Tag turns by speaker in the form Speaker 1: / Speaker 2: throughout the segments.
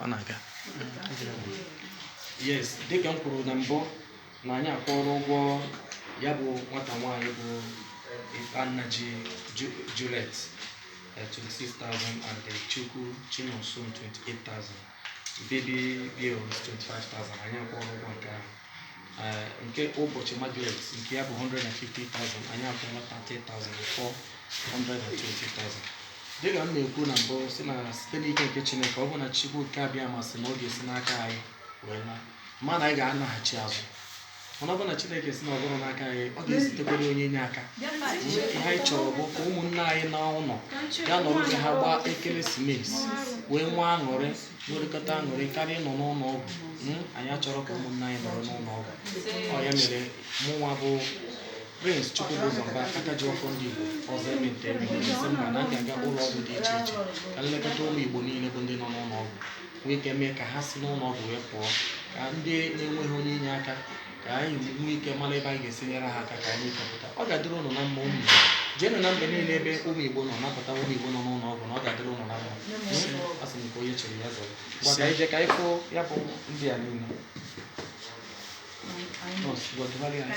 Speaker 1: ọ na-aga yes dịka m kwuru na mbụ na anyị akwụọla ụgwọ ya bụ nwata nwaanyị bụ Nnaji Ju- Juliet eh, 26,000 and Chukwu Chinonso 28,000 baby bills 25,000 anyị akwụọla ụgwọ nke ahụ eh, nke Ubochi Margaret nke ya bụ 150,000 anyị akwụọla 30,000 ọ fọọ 120,000 dịka m na-ekwu na mbụ sị na site n'ike nke chineke ọ bụ na chukwu okike abịama sị na ọ ga-esi n'aka anyị wee na mana anyị ga-anaghachi azụ mana ọ bụ na chineke sị na ọ bụrọ n'aka anyị ọ ga-ezitekwara onye inye aka ihe anyị chọrọ bụ ka ụmụnne anyị naa ụlọ ya nọrọ ka ha gbaa ekeresimesi wee nwee aṅụrị nwerekọta aṅụrị karịa ịnọ n'ụlọ ọgwụ Mm, anyị achọrọ ka ụmụnna anyị nọrọ n'ụlọ ọgwụ ọ ya mere mụnwa bụ prince chukwubuzo mba aka ji ọfọ ndị igbo ọzọ eme nta eme imo esi mba na-aga aga ụlọ ọgwụ dị iche iche ka m lekọta ụmụ igbo niile bụ ndị nọ n'ụlọ ọgwụ nwee ike mee ka ha si n'ụlọ ọgwụ wee pụọ ka ndị na-enweghị onye inye aka ka anyị nwee ike mara ebe anyị ga-esi nyere ha aka ka anyị chọpụta ọ ga-adịrị ụnụ na mma ụmụ igbo jeenụ n'ebe niile ebe ụmụ igbo nọ napụta ụmụ igbo nọ n'ụlọ ọgwụ na ọ ga-adịrị ụnụ na mma hmm? asị m ka onye chere ya zọrọ gwa ka anyị jee ka anyị fụọ ya bụ ndị a niile nọọsụ gwa dụgharị anyị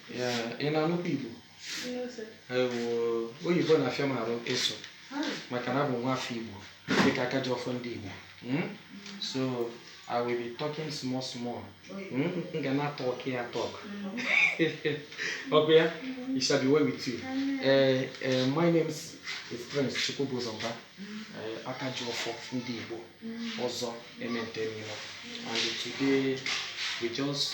Speaker 1: Ee, ị na-anụkwa Igbo Ewo, oyibo na-afịa m arụ ịsụ maka na abụ m nwafọ Igbo dịka aka ji ọfọ ndị Igbo Mm? so I will be talking small small Mm, m ga na-atalk ya atalk ọ kwa ya it shall be well with you Eh, eh, my name is is Prince Chukwubuzo Mba eh, aka ji ọfọ ndị Igbo ọzọ eme nta eme imo and today we just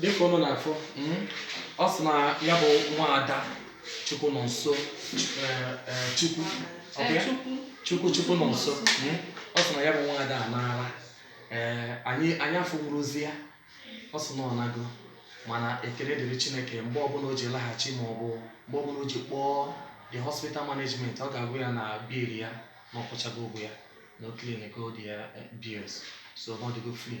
Speaker 2: dịka ụnụ
Speaker 1: na-afụ ọ sị na ya bụ nwa ada Chukwunonso eh, eh, chukwu ọ bụ ya? Chukwu. chukwu Chukwunonso Mm. ọ sị na ya bụ nwa ada anaala ee anyị anyị afụnwurozi ya ọ sị na ọ nago mana ekele dịrị chineke mgbe ọbụla o ji laghachi ma ọ bụ mgbe ọbụla o ji kpọọ the hospital management ọ ga-agwa ya na bill ya na ọ kwụchago ụgwọ ya na o cleanigo the eh, bills so ọ dịgo free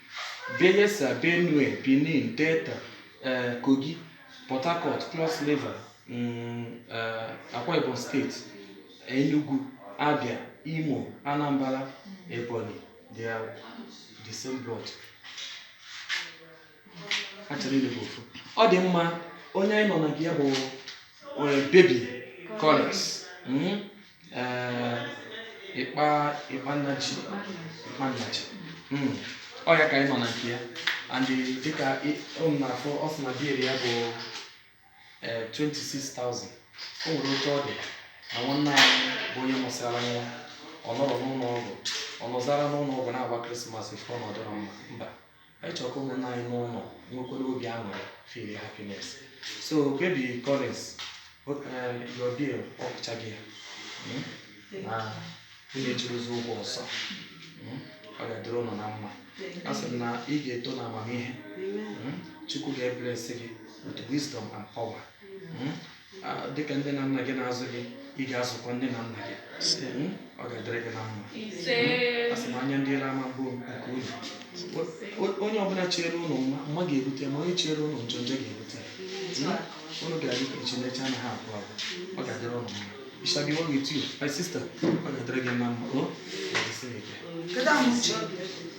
Speaker 1: Bayelsa, Benue, Benin, Delta, eh, Kogi, Port Harcourt, Cross River, mm, eh, Akwa Ibom State, Enugu, Abia, Imo, Anambra, Ebonyi, they are the same blood. Ha ncha niile bụ ofu. Ọ dị mma onye anyị nọ na nke ya bụ eh, baby Collins. Mm? eh, Ịkpa Ịkpa Nnachi Ịkpa Nnachi Mm. ọ ya ka anyị nọ na nke ya and eh, dịka ị- ụnụ na-afụ ọ sị na bill ya bụ eh, 26,000 o nwere otu ọ dị na nwanne anyị bụ onye mụsịara nwa ọ nọrọ n'ụlọ ọgwụ ọ nọzara n'ụlọ ọgwụ na-agba krismas ife ọ nọdụrụ mba mba anyị chọrọ ka ụmụnna anyị n'ụlọ nwekwara obi aṅụrị feel happiness so baby Collins o- eh, your bill a kwụchago ya Mm? na ụnụ ejirozi ụgwọ ọzọ Mm? ọ ga-adịrị ụnụ na mma a sị m na ị ga-eto na amamihe Mm? chukwu ga-eblesi gị with wisdom and power Mm? dịka nne na nna gị na-azụ gị ị ga-azụkwa nne na nna gị hmm? ọ ga-adịrị gị na mma hmm? asị m anya ndị iro ama abụ nke unu onye ọbụla chere unu mma mma ga-erute ma onye chere unu njọ njọ ga-erute unu ga-adị ka echi na echi anaghị agwụ agwụ ọ ga-adịrị unu mma It shall be well with you, my sister. Ọ ga-adịrị gị na mma. Ọ ga-adịsị gị ike.